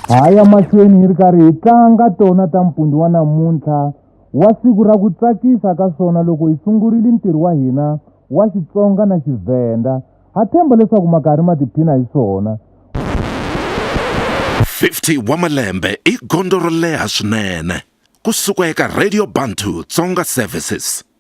ha ya mahlweni hi ri karhi hi tlanga tona ta mpundi wa namuntlha wa siku ra ku tsakisa ka swona loko hi sungurile ntirho wa hina wa xitsonga na xivhenda ha tshemba leswaku makarhi ma tiphina hi swona 50 wa malembe i gondzo ro leha swinene ku suka eka radio bantu tsonga services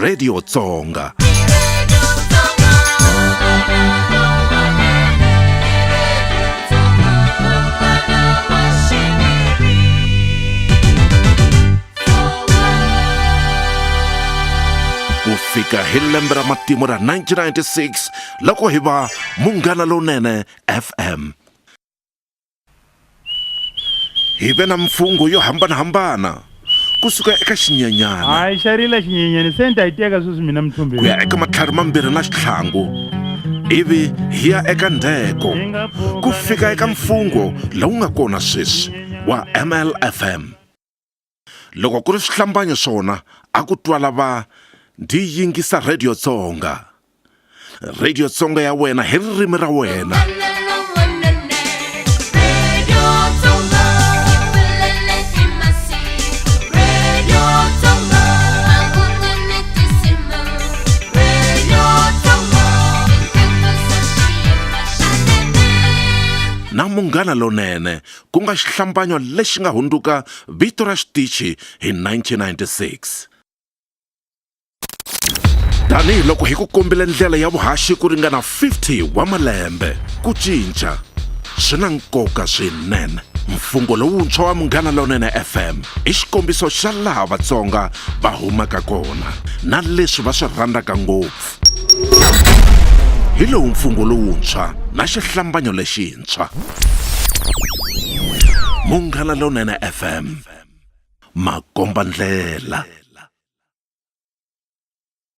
radio tsonga ku fika hi lembe ra matimu ra 1996 loko hi va munghana lowunene fm hi ve na mimfungho yo hambanahambana ku suka eka xinyenyana hayi xa rila xinyenyani se ni ta yi teka sweswi mina mithumbi ku ya eka matlhari mambirhi na xitlhangu ivi hi ya eka ndheko ku fika eka mfungho lowu nga kona sweswi wa mlfm loko ku ri swihlambanyo swona a ku twala va ndzi yingisa rhediyo tsonga rhediyo tsonga ya wena hi ririmi ra wena na munghana lonene ku nga xihlambanyo lexi nga hundzuka vito ra xitichi hi 1996. Tanihi loko hi ku kombile ndlela ya vuhaxi ku ringana 50 wa malembe, ku cinca swi na nkoka swinene. Mfungho lowuntshwa wa Munghana Lonene FM i xikombiso xa laha Vatsonga va humaka kona na leswi va swi rhandzaka ngopfu. Hi lowu mfungho lowuntshwa na xihlambanyo lexi. lowuntshwa munghana lonene fm makomba ndlela